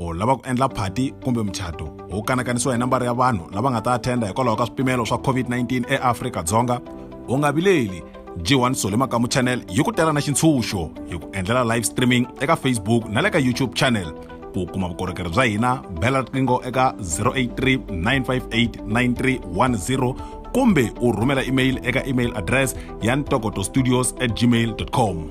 u lava ku endla phati kumbe muchato wu kanakanisiwa hi nambara ya vanhu lava nga ta attenda hikwalaho ka swipimelo swa covid-19 eafrika-dzonga u nga vileli g1 sole makamu channel yi ku tela na xintshunxo hi ku endlela live streaming eka facebook na le ka youtube channel ku kuma vukorhokeri bya hina bela riqingho eka 083 958 9310 kumbe u rhumela email eka email address ya ntokoto studios at gmail com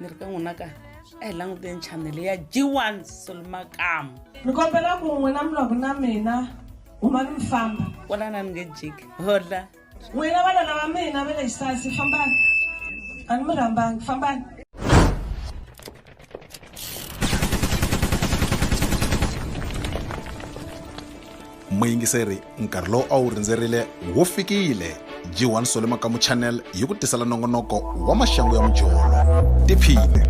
ni ri ka n'wina ka a hi languteni chanele ya g1 solomakamu ni kombela ku n'wina mi loko na mina huma ni mi famba kwalana ni nge jiki hodla n'wina vana lava mina va le xisasi fambani a ni mi rhambangi fambani muyingiseri nkarhi lowu a wu rindzerile wo fikile g1 sole makamu channel yi ku tisela nongonoko wa maxangu ya mujolo tiphine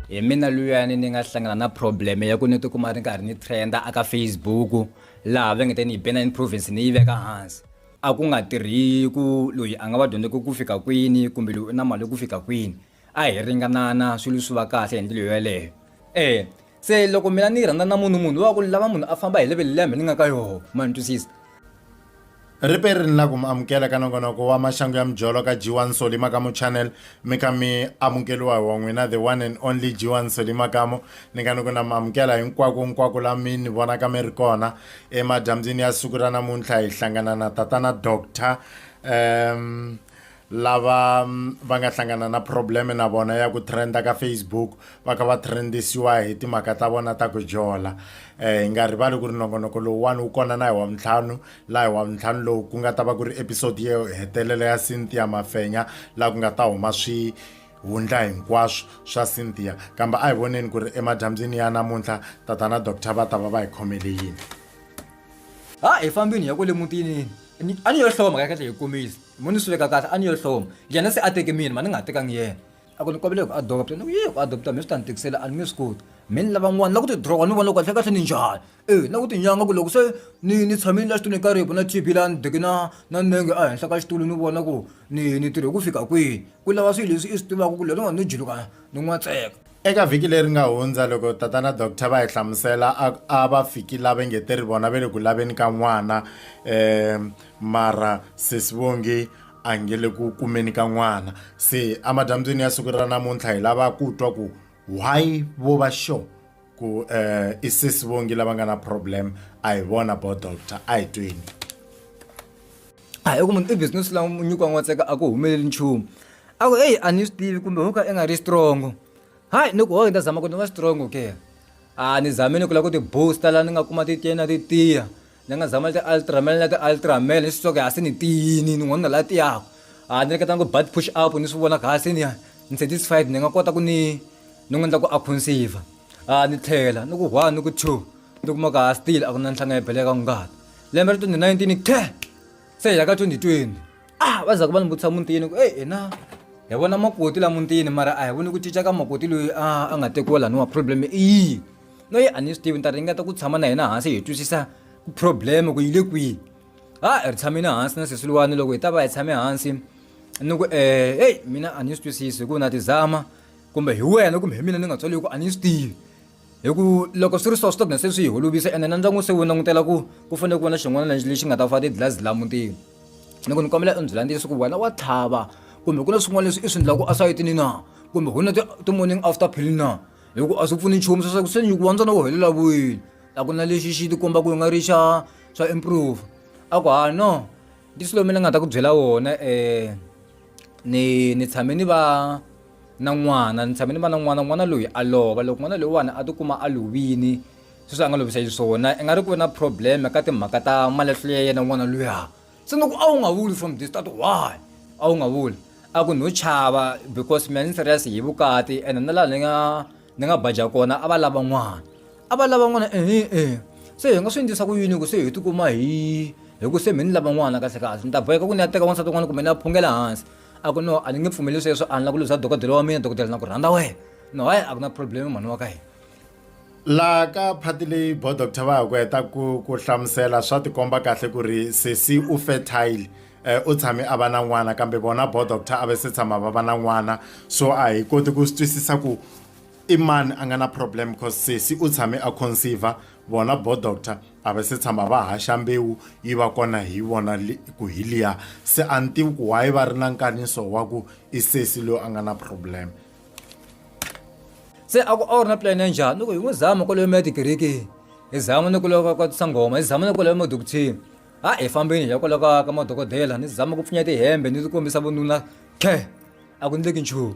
hi mina luyani ni nga hlangana na problem ya ku ni tikuma ri karhi ni trenda aka facebook laha va nge te ni yi bena improvence ni yi veka hansi a ku nga tirhi ku loyi a nga va dyondze ku ku fika kwini kumbe loyi u na mali ku fika kwini A hi ringanana swilo swi va kahle hi ndlela yo yaleyo. Eya, se loko mina ni rhandza na munhu munhu wa ku ni lava munhu a famba hi level leyi ya mina ni nga ka yoho, ma ni twisisa. Ri pe ri ni la ku mi amukela ka nongonoko wa Maxangu ya Mijolo ka G1 Nsoli Makamo Channel, mi ka mi amukeliwa hi wa n'wina the one and only G1 Nsoli Makamo. Ni nga ni ku na mi amukela hinkwako nkwako la mi ni vonaka mi ri kona. Emadyambyini ya siku ra namuntlha hi hlangana na Tatana Doctor, ehm, lava mm, va nga hlangana na problem na vona ya ku trenda ka facebook va kha va trendisiwa hi timhaka ta vona ta ku jola eh, hi um, nga rivali ku ri nongonoko lowuwani wu kona na hi wa mintlhanu laha hi wa mintlhanu lowu ku nga ta va ku ri episode yo hetelela ya cynthia mafenya laha ku nga ta huma swi hundla hinkwaswo swa cynthia kambe a hi voneni ku ri emadyambyini ya namuntlha tatana doctor va ta va va hi khomele yini ha hi fambini hi ya kwale mutini ni a ni yo hloma ka kahle hi kombisa mo ni swi veka kahle a ni yo hloma yena se a teke mina ma ni nga tekangi yena a ku ni kombele ku adopta ni ku yi ku adopta mi swi ta ni tikisela a ni nge swi koti mi ni lava n'wana na ku ti drawa ni vona loko kahle kahle ni njhani e na ku tinyanga ku loko se ni ni tshamile la xitulwini ka ribu na tb la ni deke na na nenge a henhla ka xitulu ni vona ku ni ni tirhe ku fika kwihi ku lava swilo leswi i swi tivaka ku lero nga ni jiluka ni n'watseka Eka vhiki leri nga hundza loko tata na doctor va hi hlamusela a a va fiki lava nge te ri vona ve le ku laveni ka n'wana um mara sesi vongi a nge le ku kumeni ka n'wana se amadyambyini ya siku ra namuntlha hi lava ku twa ku why vo va sure ku um i sesi vongi lava nga na problem a hi vona bo doctor a hi tweni. a hi ku munhu i business la nyikiwa n'watseka a ku humeleli nchumu a ku eyi a ni swi tivi kumbe ho ka i nga ri strongo hayi ni ku hoyi ni ta zama ku ni va strongo ke a ni zame ni ku lava ku ti-booster laha ni nga kuma titiya na titiya ni nga zama ti-ultramel na ti-ultramel ni swi twa ku ha se ni tiyini ni n'wanuna laha tiyaka a ni ringeta ku butt push up ni swi vona ku ha se ni ni satisfied ni nga kota ku ni ni n'wi endla ku a conserve. a ni tlhela ni ku one ni ku two ni kuma ka ha still a ku na nhlanga ya beleka ngati lembe ra 2019 ku ten se hi ya ka 2020 a va za ku va ni vutisa mutini ku eyi hina hi vona makoti la mutini mara a hi voni ku cinca ka makoti loyi a a nga tekiwa laniwa problem i yini noyi a ni swi tivi ni ta ringeta ku tshama na hina hansi hi twisisa ku problem ku yi le kwihi ha hi ri tshamile hansi na sesi luwani loko hi ta va hi tshame hansi ni ku um heyi mina a ni swi twisisi hi ku na ti zama kumbe hi wena kumbe hi mina ni nga tswaliwi ku a ni swi tivi hi ku loko swi ri so swi ta gina se swi yi holovisa ene na ndyangu se wu langutela ku ku fanele ku va na xin'wana lexi lexi nga ta fa tidlazi la mutini ni ku ni kombela u ndzi landzisa ku wena wa tlhava kumbe ku na swin'wana leswi i swi endlaka esayitini na kumbe ku na ti-morning after pill na hi ku a swi pfuni nchumu sweswaku se nyuku wa ntsona wu helela vuyini a ku na lexi xi ti komba ku nga ri xa xa improve a ku ha no ndi swilo mina ni nga ta ku byela wona um ni ni tshame ni va na n'wana ni tshame ni va na n'wana n'wana loyi a lova loko n'wana loyiwani a tikuma a lovini sweswi a nga lovisa xiswona i nga ri ku ve na problem ka timhaka ta malahlo ya yena n'wana luya se ni ku a wu nga vuli from the start why a wu nga vuli a ku no chava because mina ni serious hi vukati ene na laha ni nga ni nga badya kona a va lava n'wana a va lava n'wana ehe e se hi nga swi endlisa ku yini ku se hi tikuma hi hi ku se mi ni lava n'wana kahle kahle ni ta boheka ku ni ya teka wansati un'wana kumbe ni ya phungela hansi a ku no a ni nge pfumeli sweswo a ni la ku luza dokodela wa mina dokodela na ku rhandza wena no hayi a ku na problem mhani wa ka hina laha ka phati leyi bo doctor va ha ku heta ku ku hlamusela swa tikomba kahle ku ri sesi u fertile eh, u tshame a va na n'wana kambe vona bo doctor a va se tshama va va na n'wana so a hi koti ku swi twisisa ku i mani a nga na problem because sesi u tshame a conceive vona bo doctor a va se tshama va haxa mbewu yi va kona hi vona ku hi liya se a ni tivi ku why va ri na nkaniso wa ku i sesi loyi a nga na problem se a ku a wu ri na plan ya njhani ni ku hi n'wi zama kwaloyo mi ya tikereke hi zama ni kuloko ka sangoma hi zama ni kwaloyo madokuthini ha hi fambeni hi ya kwala ka ka madokodela ni zama ku pfunya tihembe ni ti kombisa vununa khe a ku ndleki nchumu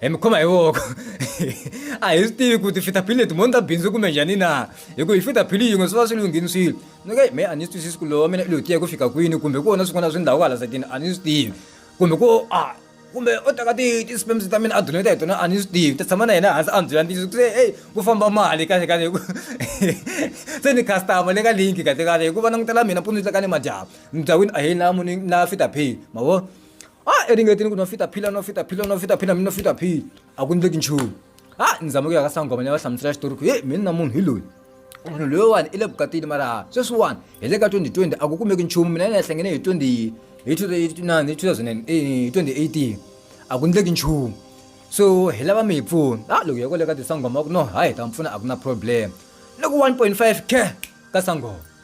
e mi khoma hi voko a hi swi tivi ku tifitaphili leti moni ta bindzu kumbe njhani na hi ku hi fitaphili yin'we swi va swi lunghini swilo ni ka me a ni twisisi ku lowa mina lowu tiya ku fika kwini kumbe ku vona swin'wana swi ndhawu hala sakini a ni swi tivi kumbe ku a kumbe o teka ti ti-sperms ta mina a donate hi tona a ni swi tivi ta tshama na yena hansi a ni byela ntiyiso ku se eyi ku famba mali kahle kahle hi ku se ni customer le ka linki kahle kahle hi ku va langutela mina mpundzu ni tleka ni madyambu ni bya wini a hi na muni na fitaphili ma vo a ah, eringetini ku no fita phila no fita phila no fita phila mi no fita phila a ku ndleki nchumu a ah, ni zame ku ya ka sangoma ni ya va hlamusela xitori ku he mi ni na munhu hi loyi munhu loyiwani i le vukatini mara sweswiwani hi le ka 2020 a ku kumeki nchumu mina ni ya hlangene hi 20 hi 2009 hi 2008 eh, hi a ku ndleki nchumu so hi lava mi hi pfuna a ah, loko hi kwale ka tisangoma ku no hayi hi ta mi pfuna a ku na problem loko 1.5 ke ka sangoma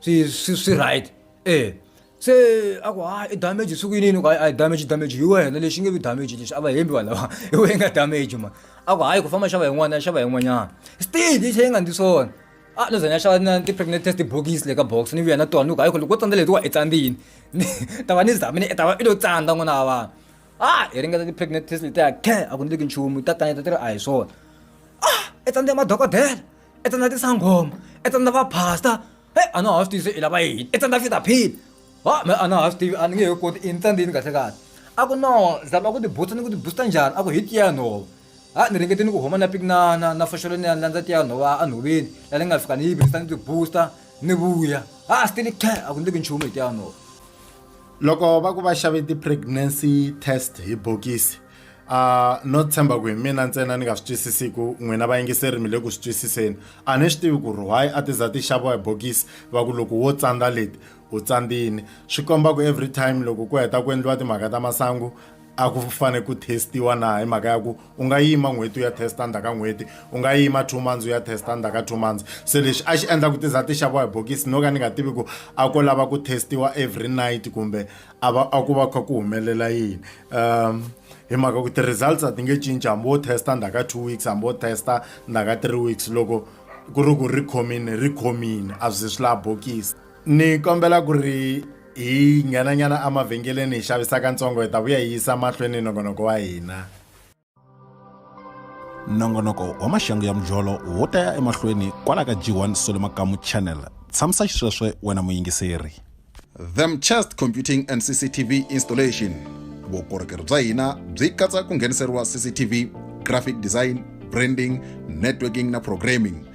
swi swi swi right e se a ku ha i damage siku yinini ku a damage damage hi wena lexi nge vi damage lexi a va hembi vanhu lava hi wena nga damage ma a ku hayi ku famba xava yin'wana ya xava yin'wanyana still yi tlhe yi nga ndzi swona a no zanya xava na ti-pregnant test bokisi le ka box ni vuya na tona ni ku hayi ku loko wo tsandza letiwa i tsandzini ni ta va ni zamini i ta va i lo tsandza n'wana wa vanhu a hi ringeta ti-pregnant test letiya khe a ku ni leki nchumu ta kaneta ti ri a hi swona a i tsandze madokodela i tsandza tisangoma i tsandza va pastor he a na ha swi tivi se i lava yini i tsandza fita phila ha me a na ha swi tivi a ni nge he koti i ni tsandzini kahle kahle a ku no zama ku tibutsa ni ku tibusta njhani a ku hi tiya nhova ha ni ringete ni ku huma na piki na na na foxolo ni ya landza tiya nhova a nhoveni la ni nga fika ni yi virisa ni tibusta ni vuya ha still khe a ku ndleki nchumu hi tiya nhova loko va ku va xave ti-pregnancy test hi bokisi a no tshemba ku hi mina ntsena ni nga swi twisisiku n'wina vayingiseri mi le ku swi twisiseni a ni swi tivi ku ri why a ti za ti xaviwa hi bokisi va ku loko wo tsandza leti u tsandzini swi komba ku every time loko ku heta ku endliwa timhaka ta masangu a ku fanele ku testiwa na hi mhaka ya ku u nga yima n'hweti u ya testa ndzhaku ka n'hweti u nga yima two months u ya testa ndzhaku ka two months se lexi a xi endla ku ti za ti xaviwa hi bokisi no ka ni nga tivi ku a ko lava ku testiwa every night kumbe a va a ku va kha ku humelela yini um hi mhaka ku ti-results a ti nge cinci hambi wo testa ndzhaku ka two weeks hambi wo testa ndzhaku ka three weeks loko ku ri ku ri khomini ri khomini a byi swi laha bokisi ni kombela ku ri hi nghenanyana emavhengeleni hi xavisaka ntsongo hi ta vuya hi yisa mahlweni nongonoko wa hina nongonoko wa maxangu ya mujolo wo ta ya emahlweni kwala ka g1 solo makamu channel tshamisa xisweswe wena muyingiseri them chest computing and cctv installation vukorhokeri bya hina byi katsa ku ngheniseriwa cctv graphic design branding networking na programming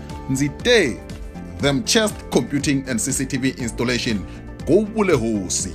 ndzi te them chest computing and cctv installation go vule hosi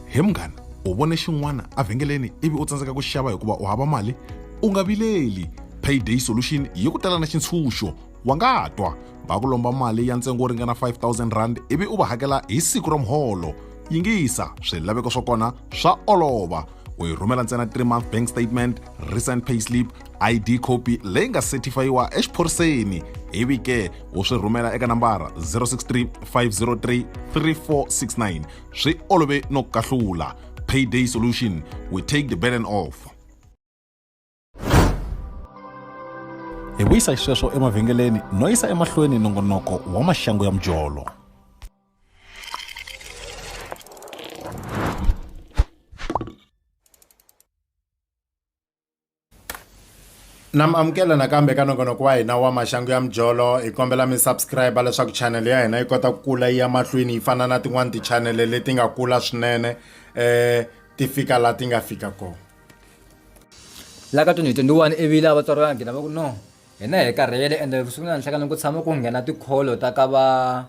he munghana u vone xin'wana evhengeleni ivi u tsandzeka ku xava hikuva u hava mali u nga vileli payday solution yi ku tala na xintshunxo wa nga twa va ku lomba mali ya ntsengo wo ringana 5000 rand ivi u va hakela hi siku ra muholo yingisa swilaveko swa kona swa olova u yi rhumela ntsena 3 month bank statement recent payslip id copy leyi nga setifhayiwa exiphoriseni ivi ke u swi rhumela eka nambara 063 503 3469 swi olove no kahlula payday solution we take the burden off hi vuyisa xisweswo emavhengeleni no yisa emahlweni nongonoko wa maxangu ya mujolo na mi amukela nakambe ka nongonoko wa hina wa maxangu ya mijolo hi kombela mi subscribe leswaku chanele ya hina yi kota ku kula yi ya mahlweni yi fana na tin'wani tichanele leti nga kula swinene um ti fika laha ti nga fika kona la ka 2021 ivile a vatswari va nghena va ku no hina hi karhele ende vusiku na nhlekana ku tshama ku nghena tikholo ta ka va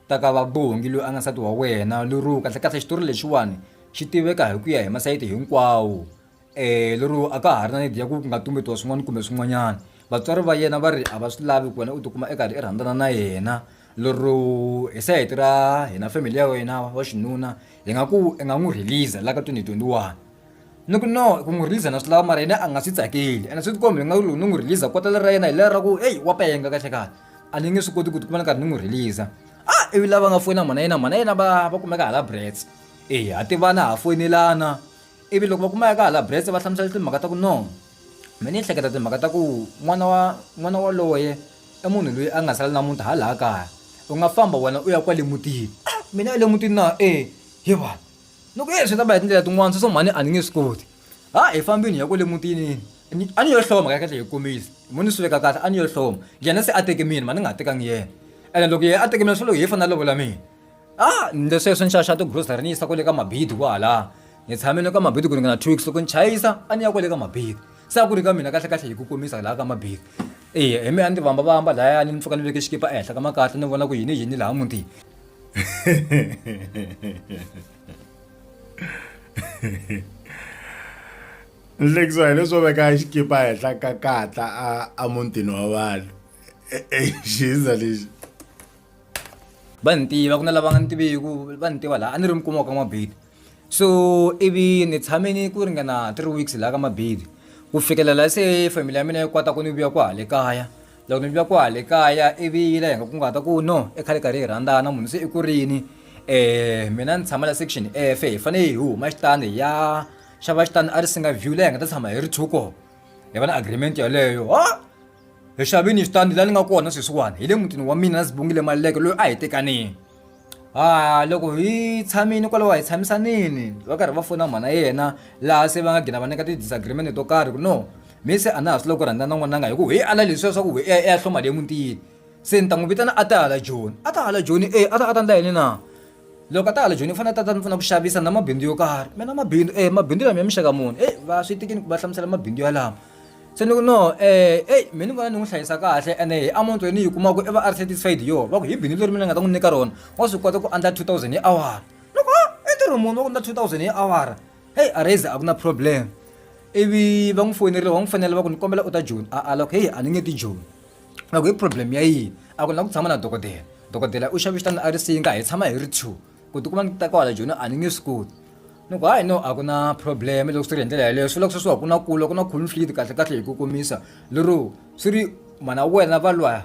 ta ka va bongi loyi a nga nsati wa wena luruka kahle kahle xitori lexiwani xi tiveka hi ku ya hi masayiti hinkwawo um lero a ka ha ri na need ya ku nga tumbetiwa swin'wana kumbe swin'wanyana vatswari va yena va ri a va swi lavi ku wena u tikuma i karhi i rhandzana na yena lero hi sayiti ra hina family ya wena wa xinuna hi nga ku i nga n'wi release-a la ka twenty twenty one ni ku no ku n'wi release-a na swi lava mara yena a nga swi tsakeli ene swi ti kombi hi nga ku loko ni n'wi release-a kota leri ra yena hi leri ra ku eyi wa penga kahle kahle a ni nge swi koti ku tikuma ni karhi ni n'wi release-a a ivi lava nga foyina mhana yena mhana yena va va kumeka hala brits eya ha tivana ha foyinelana Ivi loko va kuma ya ka hala Brest va hlamusela timhaka ta ku no mina ni hleketa timhaka ta ku n'wana wa n'wana waloye i munhu loyi a nga sala na muti halaya kaya u nga famba wena u ya kwale mutini mina ya le mutini na e he va ni ku e swi ta va hi tindlela tin'wani sweswo mhani a ni nge swi koti ha hi fambini hi ya kwale mutini ni a ni yo hloma kahle kahle hi kombisa mo ni swi veka kahle a ni yo hloma yena se a teke mina mhani ni nga tekangi yena ene loko yena a teke mina swi vula ku hi yena i fane a lovola mina. a ni le sweswi ni xaxa tigrocery ni yisa kwale ka mabidi kwalaha ni tshame ni ka mabidi ku ringana two weeks loko ni chayisa a ni ya kwale ka mabidi se a ku ri ka mina kahle kahle hi ku komisa laha ka mabidi eya hi me a ni tivamba vamba lahaya ni ni pfuka ni veke xikipa ehenhla ka makatla ni vona ku yini yini laha mutini ni hlekisiwa hi leswo veka xikipa henhla ka katla a a mutini wa vanhu exiyisa lexi va ni tiva ku na lava nga ni tiviku va ni tiva laha a ni ri mi kuma ka mabedi so ivi ni tshame ni ku ringana three weeks laha ka mabedi ku fikelela se family ya mina yi kota ku ni vuya ku hale kaya loko ni vuya ku hale kaya ivi yi la hi nga kunguhata ku no i khale karhi hi rhandzana munhu se i kurini um mina ni tshama la section efe hi fanele hi huma xitandi hi ya xava xitandi a ri singa view leyi hi nga ta tshama hi ri two koho hi va na agreement yeleyo ha hi xavini xitandi laha ni nga kona sweswiwani hi le mutini wa mina na zibungile maluleke loyi a hi tekanini ha loko hi tshamile kwalaho hi tshamisanini va karhi va fona mhana yena laha se va nga gina va nyika ti-disagreement to karhi ku no mi se a na ha swi loko rhandza na n'wananga hi ku hi ala leswiya swa ku hi ya hloma le mutini se ni ta n'wi vitana a ta hala joni a ta hala joni e a ta a ta ndla yini na loko a ta hala joni u fanele tata ni pfuna ku xavisa na mabindzu yo karhi mina mabindzu e mabindzu lama ya mixaka muni e va swi tikini va hlamusela mabindzu yalama se ni ku no um eyi mi ni vona ni n'wi hlayisa kahle ene hi amount leyi ni yi kumaka i va a ri satisfied hi yona va ku hi bindzu leri mina ni nga ta n'wi nyika rona wa swi kota ku endla two thousand hi awara ni ku i ntirho muni wa ku endla two thousand hi awara heyi a raise a ku na problem ivi va n'wi foyineriwa va n'wi fanela va ku ni kombela u ta joni a a loko heyi a ni nge ti joni loko i problem ya yini a ku na ku tshama na dokodela dokodela u xava xitandi a ri singa hi tshama hi ri two ku tikuma ni ta kwala joni a ni nge swi koti ni ku hayi no a ku na problem loko swi ri hi ndlela yeleyo swi loko sweswi wa ku na kula ku na conflict kahle kahle hi ku komisa lero swi ri mhana wena va lwa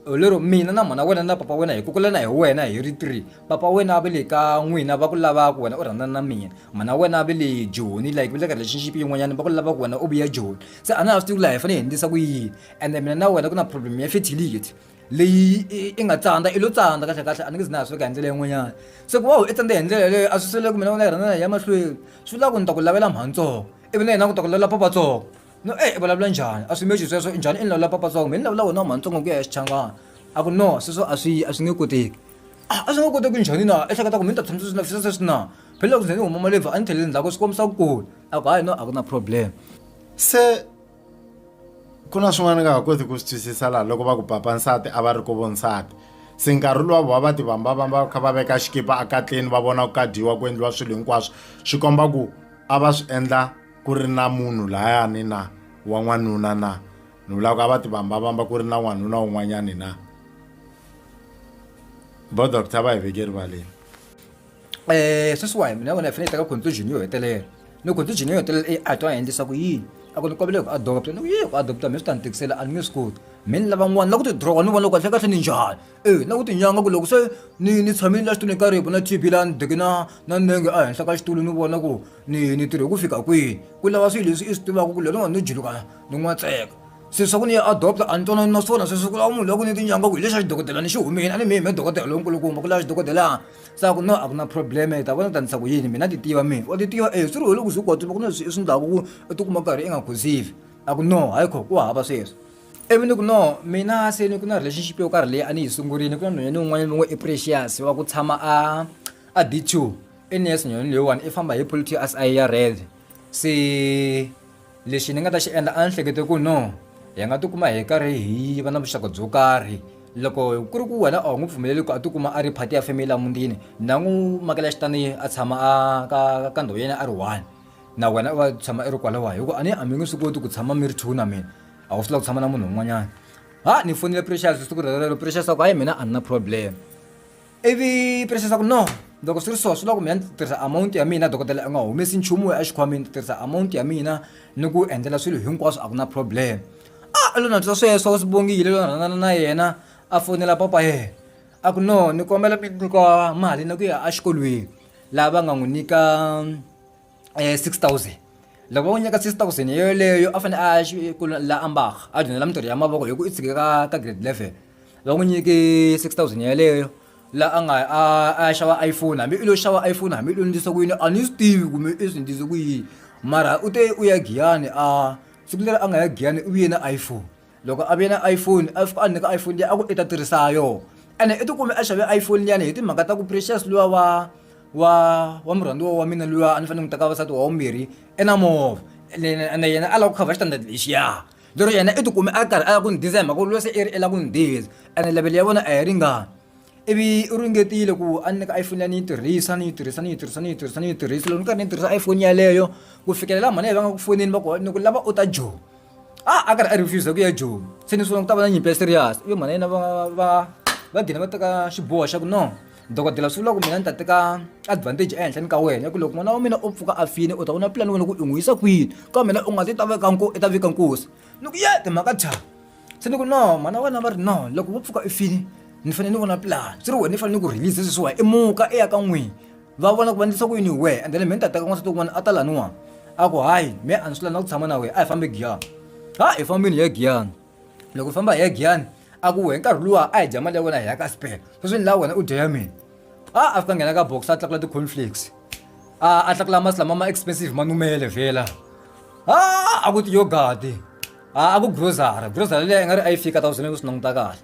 lero mina na mhana wena na papa wena hi kukulana hi wena hi ri three papa wena va le ka n'wina va ku lavaka wena u rhandzana na mina mhana wena va le joni like va le ka relationship yin'wanyana va ku lavaka wena u vuya joni se a na ha swi tivi ku laha hi fanele hi endlisa ku yini ende mina na wena ku na problem ya fertility leyi i- i nga tsandza i lo tsandza kahle kahle a ni nge zi na ha sweka hi ndlela yin'wanyana se ku va u i tsandza hi ndlela yeleyo a swi sele ku mina u na rhana ya mahlweni swi vula ku ni ta ku lavela mhantsongo ivi na yena ku ta ku lavela papatsongo no e i vulavula njhani a swi mechi sweswo njhani i ni lavela papatsongo mina ni lavula wona wa mhantsongo ku ya ya xichangana a ku no sweswo a swi a swi nge koteki Ah, a swi nge koteki njhani na ehleketa ku mina ta tshama sweswi na fisa sweswi na phela loko ze ni huma malebvu a ni thelele ndzhaku swi kombisa ku kula a ku hayi no a ku na problem se Ku na swin'wana ni nga ha koti ku swi twisisa laha loko va ku papa nsati a va ri ku vo nsati se nkarhi luwa vona va tivambavamba va kha va veka xikipa ekatleni va vona ku ka dyiwa ku endliwa swilo hinkwaswo swi komba ku a va swi endla ku ri na munhu layani na wa n'wanuna na ni vula ku a va tivambavamba ku ri na n'wanuna wun'wanyani na vo doctor va hi veke erivaleni. um sweswiwani mina vona hi fanele hi teka conclusion yo hetelela ni conclusion yo hetelela i a twa a endlisa ku yini a ku ni kombele ku adopta ni ku yi ku adopta mi swi ta ni tikisela a ni nge swi koti mi ni lavan'wana la ku ti droga ni vona loko kahle kahle ni njhani e na ku tinyanga ku loko se ni ni tshamile la xitulwini ka ripo na t b laha ni deke na na nenge a henhla ka xitulu ni vona ku ni ni tirhe ku fika kwini ku lava swilo leswi i swi tivaka ku lerin'wana ni juluka ni n'wa tseka se swa ku ni ya adopta a ni twanani na swona sweswi ku lava munhu loko ni tinyanga ku hi lexi a xidokodela ni xi humile a ni mi yime dokodela lonkulukumba ku lava xidokodelana sa ku no a ku na problem hi ta vona ta ndlisa ku yini mina ti tiva mina wa ti tiva e swi ri hi loko swi kota ku na swi swi ndlaku ku u ti kuma karhi i nga khuzile a ku no hayi kho ku hava sweswo ivi ni ku no mina se ni ku na relationship yo karhi leyi a ni yi sungurile ku na nhwanyana ni un'wanyana loyi i precious wa ku tshama a a d two i nurse nhwanyana leyiwani i famba hi polity ya red se lexi ni nga ta xi endla a ni hlekete ku no hi nga tikuma hi karhi hi va na vuxaka byo karhi loko ku ri ku wena a wu n'wi pfumeleli ku a tikuma a ri phati ya family ya mutini na n'wi makela xitani a tshama a ka ka ndhawu yena a ri one na wena u va tshama i ri kwalawa hi ku a ni a mi nge swi koti ku tshama mi ri two na mina a wu swi lava ku tshama na munhu un'wanyana ha ni fonele precious siku rero precious a ku hayi mina a ni na problem. ivi presa swa ku no loko swi ri so swi loko mina ndzi tirhisa amount ya mina dokodela u nga humesi nchumu a xikhwameni ndzi tirhisa amount ya mina ni ku endlela swilo hinkwaswo a ku na problem a lona twa sweswo u swi bongile lona rhanana na yena a fonela papa yena a ku no ni kombela mi nyika mali na ku ya exikolweni laha va nga n'wi nyika eh, 6000 loko va n'wi nyika 6000 hi yoleyo a fanele a ya xi- ku la ambaka a dyondzela mintirho ya mavoko hi ku i tshike ka ka grade 11 va n'wi nyike 6000 yeleyo la a nga a a ya xava iphone hambi i lo xava iphone hambi i lo ndlisa ku yini a ni swi tivi kumbe i swi ndlise ku yini mara u te u ya giyani a siku leri a nga ya giyani u vuye na iphone loko a ve na iphone a fika a nyika iphone liya a ku i ta tirhisa ha yona ene i tikume a xave iphone liyani hi timhaka ta ku precious luya wa wa wa murhandziwa wa mina luya a ni fanele ni n'wi teka vavasati wa vumbirhi i na movha ene yena a lava ku cover xitandati lexiya lero yena i tikume a karhi a lava ku ni diza hi mhaka ku luya se i ri i lava ku ni diza ene level ya vona a yi ringani ivi u ringetile ku a ni nyika iphone liya ni yi tirhisa ni yi tirhisa ni yi tirhisa ni yi tirhisa ni yi tirhisa loko ni karhi ni tirhisa iphone yeleyo ku fikelela mhani leyi va nga ku fonini va ku ni ku lava u ta joni. ah a karhi a refusa ku ya joni se ni sungula ku ta va na nyimpi ya serious i yo mhana yena va va va gina va teka xiboho xa ku no dokodela swi vula ku mina ni ta teka advantage ehenhleni ka wena ya ku loko n'wana wa mina u pfuka a fini u ta vona pulani wena ku i n'wi yisa kwini ka mina u nga ti ta veka nko i ta vika nkosi ni ku ye timhaka tha se ni ku no mhana wena va ri no loko vo pfuka i fini ni fanele ni vona pulani swi ri wena ni fanele ni ku release sweswiwa i muka i ya ka n'wini va vona ku va ndlisa ku yini hi wehe ende le me ni ta teka n'wansati wun'wana a ta laniwani a ku hayi me a ni swi lavi na ku tshama na wehe a hi fambe giyani ha hi fambini hi ya giyani loko hi famba hi ya giyani a ku wehe nkarhi luwa a hi dya mali ya wena hi ya ka spele sweswi ni laha wena u dya ya mina a a fika nghena ka box a tlakula ti-conflicts a a tlakula masi lama ma expensive ma numele vhela a a ku tiyogati a a ku grocery grocery leyi a nga ri a yi fika ta ku swi nge ku swi languta kahle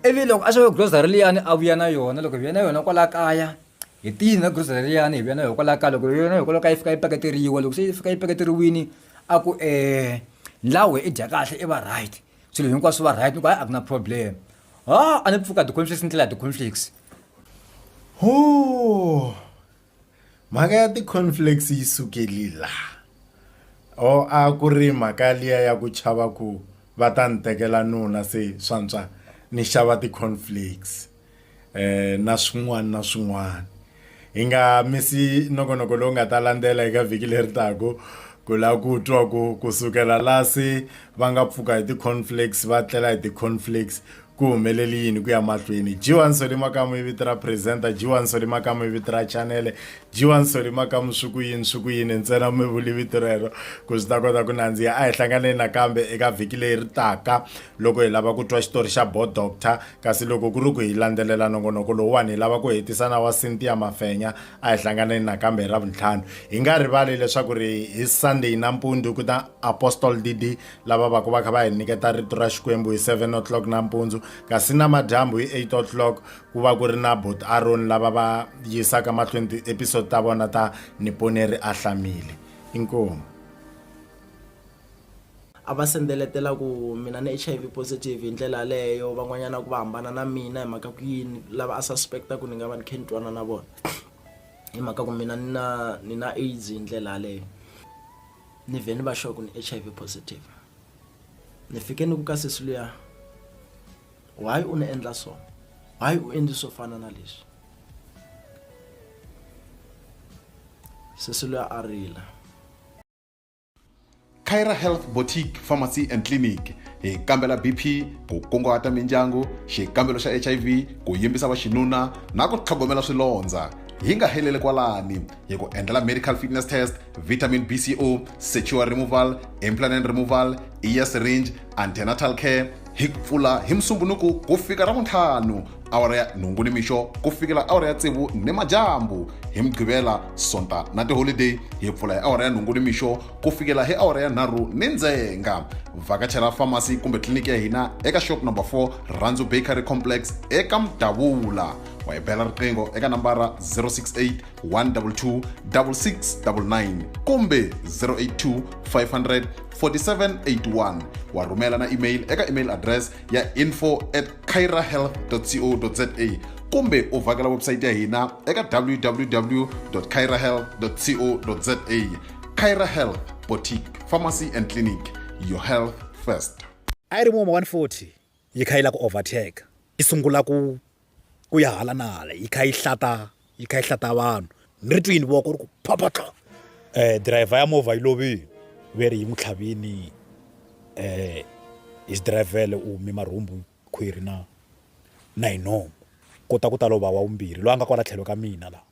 ivi loko a xava grocery liyani a vuya na yona loko hi vuya na yona kwala kaya hi tiyini na grocery liyani hi vuya na yona kwala kaya loko hi yona hikwalaho ka yi fika yi paketeriwa loko se yi fika yi paketeriwini a ku um ndlawe i dya kahle i va right swilo hinkwaswo va right ni ku hayi a ku na problem ha a ni pfuka ti-conflicts ni tlela ti-conflicts ho Mhaka ya ti-cornflakes yi sukeli la or a ku ri mhaka liya ya ku chava ku va ta ni tekela nuna se swantswa ni xava ti-cornflakes um na swin'wana na swin'wana hi nga misi nongonoko lowu nga ta landzela eka vhiki leri taka ku lava ku twa ku kusukela la se va nga pfuka hi ti-cornflakes va tlela hi ti-cornflakes ku humeleli yini ku ya mahlweni jiwa nsoli makamu i vito ra presenter jiwa nsoli makamu i vito ra chanele jiwa nsoli makamu swi ku yini swi ku yini ntsena mi vuli vito rero ku swi ta kota ku nandziha a hi hlanganeni nakambe eka vhiki leyi ri taka loko hi lava ku twa xitori xa bo doctor kasi loko ku ri ku hi landzelela nongonoko lowuwani hi lava ku hetisa na wa cynthia mafenya a hi hlanganeni nakambe hi ra vuntlhanu hi nga rivali leswaku ri hi sunday nampundzu ku ta apostol dd lava va ku va kha va hi niketa rito ra xikwembu hi 7 o'clock nampundzu kasi namadyambu hi 8 o'clock ku va ku ri na bot aron lava va yisaka mahlweni ti-episode ta vona ta niponeri a hlamile inkomu a va sendeletela ku mina ni h i v positive hi ndlela yaleyo van'wanyana ku va hambana na mina hi mhaka ku yini lava a suspecta ku ni nga va ni khe ni twana na vona hi mhaka ku mina ni na ni na aids hi ndlela yaleyo ni vhe ni va sure ku ni H_I_V positive ni fike ni ku ka sesi luya why u ni endla so why u endli swo fana na leswi sesi luya a rila Kyra Health Boutique Pharmacy and Clinic hi kambela BP ku kunguhata mindyangu xikambelo xa HIV ku yimbisa vaxinuna na ku tlhogomela swilondza hi nga heleli kwalani hi ku endlela medical fitness test vitamin bco sexual removal implanent removal ear syringe antenatal care hi ku pfula hi musumbunuku ku fika ra vuntlhanu awara ya nhungu ni mixo ku fikela awara ya tsevu ni madyambu hi mugqivela sonta na tiholideyi hi pfula hi awara ya nhungu ni mixo ku fikela hi awara ya nharhu ni ndzenga vhakachela famasi kumbe tliliniki ya hina eka shop number 4 randzu bakery complex eka mudavula wa hi bela riqingho eka nambara 068 122 6699 kumbe 082 500 4781 wa rhumela na email eka email address ya info at cairahealth co za kumbe u vhakela website ya hina eka www cairahealth co za caira health boutique pharmacy and clinic your health first i ri muma 140 yi kha yi lava ku overtaker yi sungula ku ku ya hala na hala yi kha yi hlata yi kha yi hlata vanhu ni ri twini voko ri ku phaphatla um driver ya movha yi lovile ve ri yi n'wi tlhavini um hi xidirayivhele u hume marhumbu khwiri na na hi nomu kota ku ta lova wa vumbirhi loyi a nga kwala tlhelo ka mina laha